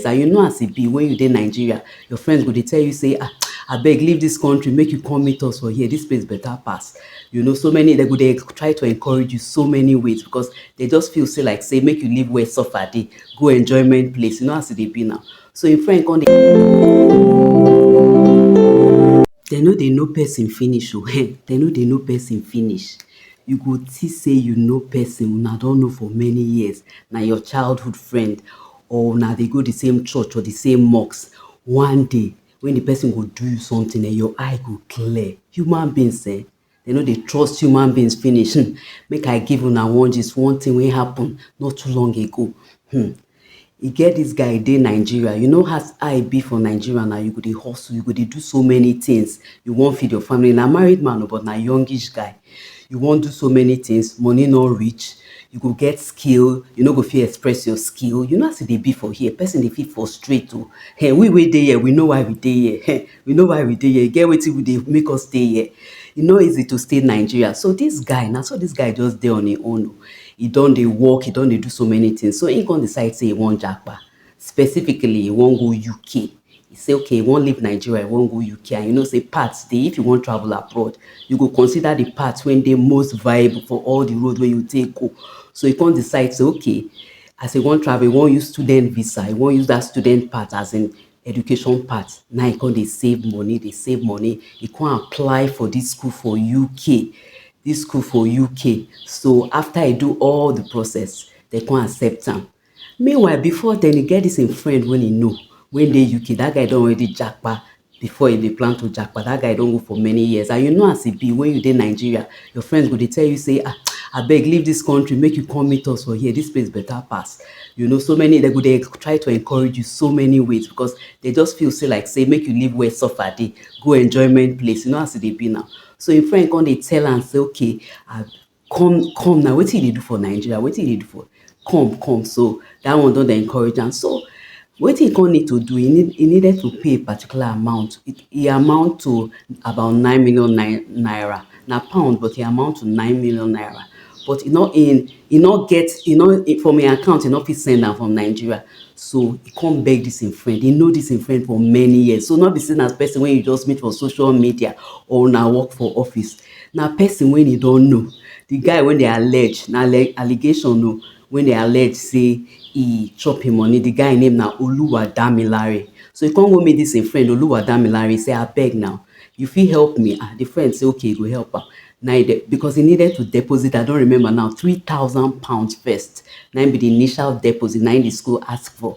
and you know as e be when you dey Nigeria, your friends go dey tell you say ah abeg leave this country make you come meet us for here, this place better pass you know so many dem go dey try to encourage you so many ways because they just feel say like say make you leave where suffer dey go enjoyment place you know as e dey be now so im friend come dem no dey know person finish o dem no dey know person finish you go see say you know person una don know for many years na your childhood friend or una dey go the same church or the same mosque one day when the person go do you something eh your eye go clear human beings eh dem no dey trust human beings finish hmm. make i give una one gist one thing wey happen not too long ago hmm. e get this guy dey nigeria you know as i be for nigeria now you go dey hustle you go dey do so many things you wan feed your family na married man o but na youngish guy you wan do so many things money no reach you go get skill you no go fit express your skill you know as e dey be for here person dey fit frustrate o hey, we wey dey here we know why we dey here hey, we know why we dey here e get wetin we dey make us stay here e no easy to stay nigeria so this guy na so this guy just dey on im own o e don dey work e don dey do so many things so im come decide say e wan japa specifically e wan go uk e say okay e wan leave nigeria e wan go uk and you know say paths dey if you wan travel abroad you go consider the path wey dey most viable for all the road wey you take go so e come decide say okay as e wan travel e wan use student visa e wan use that student path as in education path na e come dey save money dey save money e come apply for this school for uk this school for uk so after e do all the process they come accept am Meanwhile, before then, e get this im friend wey e know wey dey UK. That guy don already japa before e dey plan to japa. That guy don go for many years. And you know as e be when you dey Nigeria, your friends go dey tell you say, ah, abeg leave this country, make you come meet us for here. This place better pass. You know, so many, they go dey try to encourage you so many ways because they just feel say like say make you leave where suffer dey, go enjoyment place. You know as e dey be now. So im friend come dey tell am say, okay, I, come come na wetin you dey do for Nigeria wetin you dey do for come come so that one don dey encourage am so wetin he come need to do he need he needed to pay a particular amount it e amount to about nine million naira na pound but e amount to nine million naira but he no he he no get he no from him account he no fit send am from Nigeria so he come beg this him friend he know this him friend for many years so no be say na person wey you just meet for social media or una work for office Na pesin wey e don know, di guy wey dem allege, na allegation o, wey dem allege sey e chop im money, di guy name na Oluwadamilare. So e kon go meet dis e friend Oluwadamilare sey abeg na, you fit help me? Ah, di friend sey ok e go help am, na e den, because e needed to deposit, I don remember now, three thousand pounds first, naim be di initial deposit, naim di school ask for.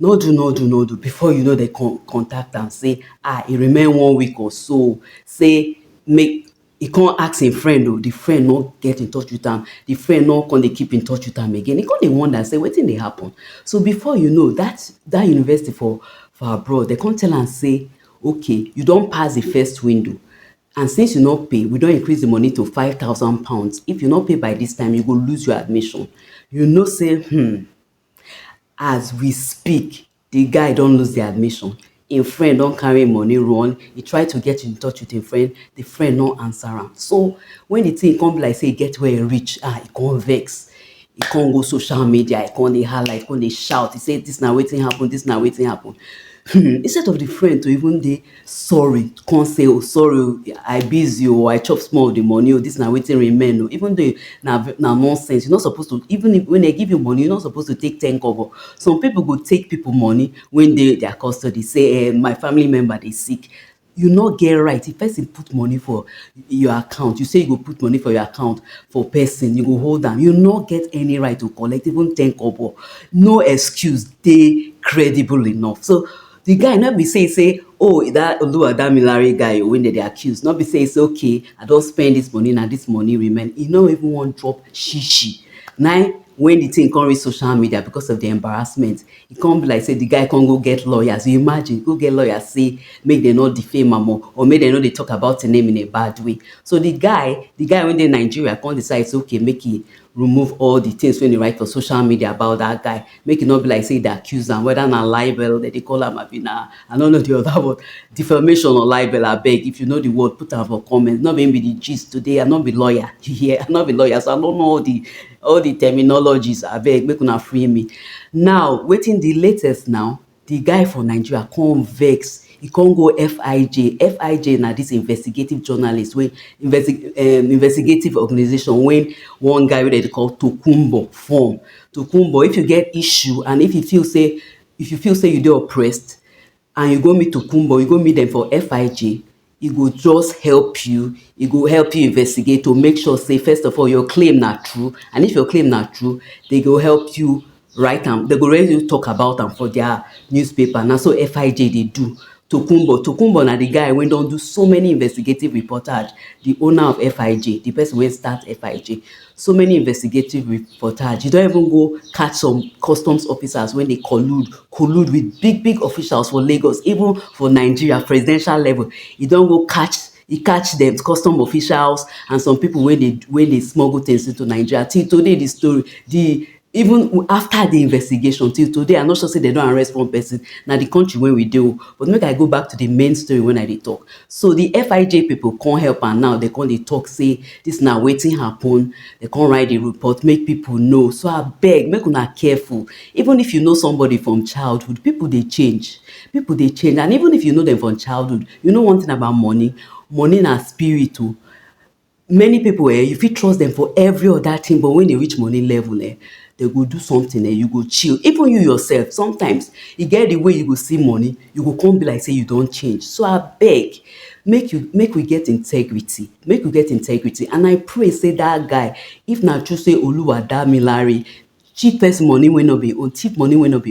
No do no do no do before you know dem con contact am say ah e remain one week or so say make e con ask im friend o, di friend no get in touch with am, di friend no con dey keep in touch with am again, e con dey wonder say wetin dey happen, so before you know dat dat university for for abroad dem con tell am say okay you don pass di first window and since you no pay we don increase di money to five thousand pounds if you no pay by dis time you go lose your admission, you know say hmmm. As we speak, di guy don lose di admission, im friend don carry im money run, e try to get in touch with im friend, di friend no answer am. So when di thing come be like say e get where e reach, ah, e come vex, e come go social media, e come dey hala, e come dey shout, e say dis na wetin happen, dis na wetin happen. Instead of di friend to even dey sorry come say oh sorry oh i busy oh i chop small of the money oh this na wetin remain oh even though na na nonsense you no suppose to even if when they give you money you no suppose to take ten kobo some people go take people money when dey their custody say eh my family member dey sick you no get right if person put money for your account you say you go put money for your account for person you go hold am you no get any right to collect even ten kobo no excuse dey credible enough so Di guy no be say e say oh dat Oluwadamilare guy wey dem dey accuse no be say e say okay I don spend dis money na dis money remain e no even wan drop shishi na im when di thing come reach social media because of di embarrassment e come be like say di guy come go get lawyers you imagine go get lawyer say make dem no defame am oh or make dem no dey talk about im name in a bad way so di guy di guy wey dey Nigeria come decide say okay make e remove all the things wey dey write for social media about that guy make e no be like say e dey accuse am whether na libel dem dey call am abi na I no know the other word defamation or libel abeg if you know the word put am for comment no be him be the gist today I no be lawyer you hear I no be lawyer so I no know all the all the terminologies abeg make una free me now wetin the latest now Di guy for Nigeria come vex, e come go FIJ, FIJ na dis investigative journalist wey um investigative organisation wey one guy wey dem dey call Tokunbo form. Tokunbo if you get issue and if you feel sey if you feel sey you dey oppressed and you go meet Tokunbo, you go meet dem for FIJ, e go just help you, e go help you investigate to make sure say first of all your claim na true and if your claim na true, dey go help you write am, dey go let you talk about am for dia newspaper, na so FIJ dey do. Tokunbo, Tokunbo na di guy wey don do so many investigative reportage, di owner of FIJ, di person wey start FIJ. so many investigative reportage e don even go catch some customs officers wey dey collude collude with big big officials for lagos even for nigeria presidential level e don go catch e catch dem custom officials and some people wey dey wey dey smuggle things into nigeria till today di story di Even after the investigation till today I no sure say dem don arrest one person na the country wey we dey o but make I go back to the main story when I dey talk so the FIJ people come help am now dem come dey talk say this na wetin happen dem come write the report make people know so abeg make una careful even if you know somebody from childhood people dey change people dey change and even if you know them from childhood you know one thing about money money na spirit o Many pipu um you fit trust dem for every other thing but when e reach money level um dey go do something um you go chill even you yourself sometimes e get de way you go see money you go come be like sey you don change so abeg make you make we get integrity make we get integrity and I pray sey dat guy if na true sey Oluwadamilare cheap person money wey no be him own thief money wey no be him own.